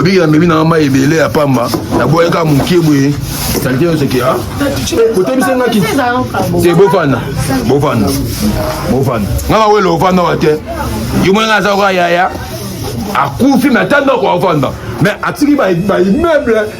obi amemi na mai ebele ya pamba naboyaka moke boye salite nyonso ke a kotebisa nga kiti te bofanda bofanda bofanda nga bawele ofanda wa te yo mwana aza koka yaya akufi me ata ndako afanda me atiki baimmeuble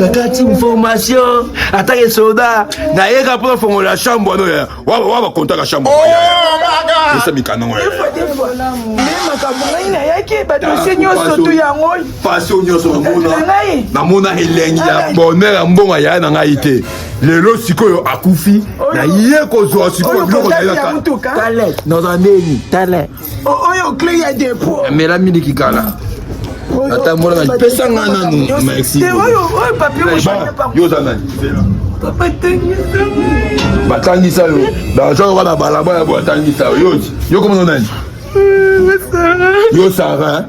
kakati information atake soda nayeka mpo nafongola chambre wana oyo wa bakontaka chambre esa mikanda ngo makambo ngai nayaki badosie nyonso tu yango pasio nyonso namona elengi ya bonheur ya mbongo yaya na ngai te lelo sikoyo akufi naye kozwa sikoyo biloko naye nazala ndeni oyo cle ya depo mela miliki kala atambola na pesa nga nanu merci yo oza nani batangisa yo baza yoka na balabala bo atangisa yo yo komona nani yo sara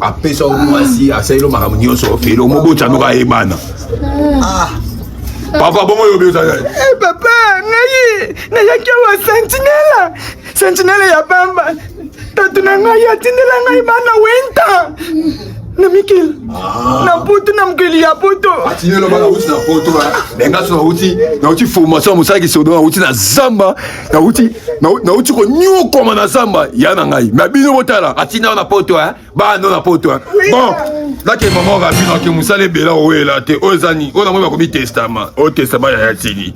apesa yo mwasi asaleli yo makambo nyonso felo mobotya moko ayebana ah. papa bongo oyo obiosa eh, papa ngai nayaki awa sentinela sentinela ya pamba tatu na ngai atindela ngai bana wenta na mikili ah. na poto na mokili ya poto atinelo bana uti na poto bengaso nauti nauti formation ya mosala kisodo nauti na zamba nauti nauti konyokwama na zamba ya na ngai me bino botala atinda na poto eh? bano na poto eh? bon lake mama rabino ake mosala ebela owela te oyo eza nini oyo namoni bakomi testama oyo testama yaya tini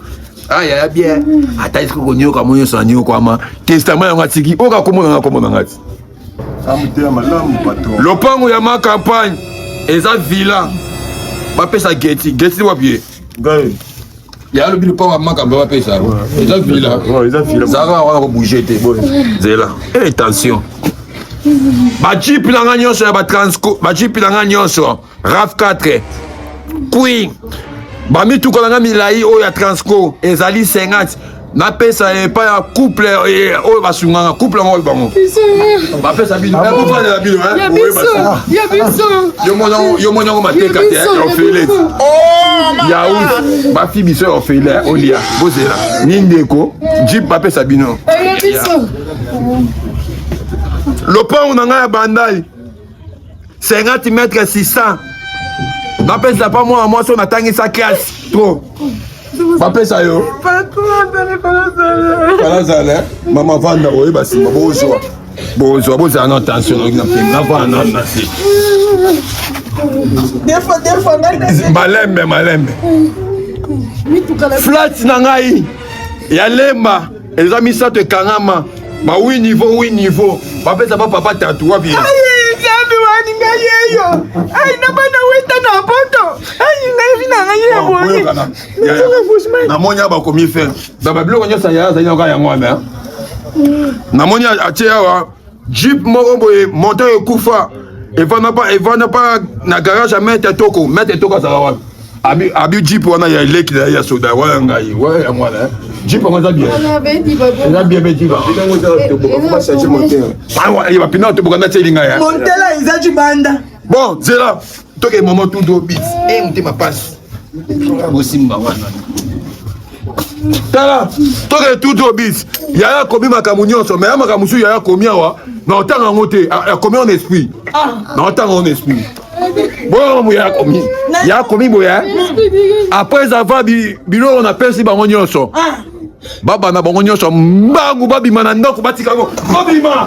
ayaya ah, bien ata esiki konyoka mo nyonso nanyokwama testama yango atiki oyo kakomona nga komona nga ti lopango ya ma campagne eza villa bapesa geti geti wapi ye ngai ya alobi lopango ya makambo bapesa yango eza vila zaka yango nakobouge te nzela e eh, tension bajipe na ngai nyonso ya batransco bajipe na ngai nyonso raf 4 queen bamituka na ngai milai oyo ya transco ezali 50 napesa ye epai ya couple eh, oyo basunganga couple yango bango bapesa bino ah eh, bofandela bino eh, yo moni yango mateka te ya ofele oh, yaout bafi biso ya ofele olia bozela ni ndeko jip bapesa bino lopango na ngai ya bandai 50 mètre 600 bapesa pa mwana mwasi oyo natangisa classe trop bapesa yo kalazala mama vanda oyeba nsima bozwa bozwa bozala na tension oyoki na mpema navana nano na se malembe malembe flat na ngai ya lemba eza misato ekangama ba wi niveau wi niveau bapesa ba papa tatu wapi nzambe wani ngai yeyo ai na bana weta na poto ai ngai vi na ngai ya boye namoni ya bakomi fe babiloko nyonso ya azali na kaka yango wana namoni atie awa Jeep moko boye moteur ekufa evanda pa evanda pa na garage ya maître Toko, maître Toko azala wapi? Abi abi Jeep wana ya leki na ya soda wana ngai, wana ya mwana eh. Jeep yango eza bien. Eza bien mais Jeep. Awa, ah, ye bapina toboka na teli ngai. Eh. Montela eza jibanda. Bon, zela. toke mama tudo bis e eh, motema pasi bosimba wana tala toke tudo bis yaya akomi makambo nyonso me ya makambo mosusu yaya akomi awa na otanga yango te akomi ah, en esprit ah. na otanga en esprit boyoko moya akomi ya akomi boya après avoir biloko napesi bango nyonso ah. baba na bango nyonso mbangu babima na ndako batika yango babima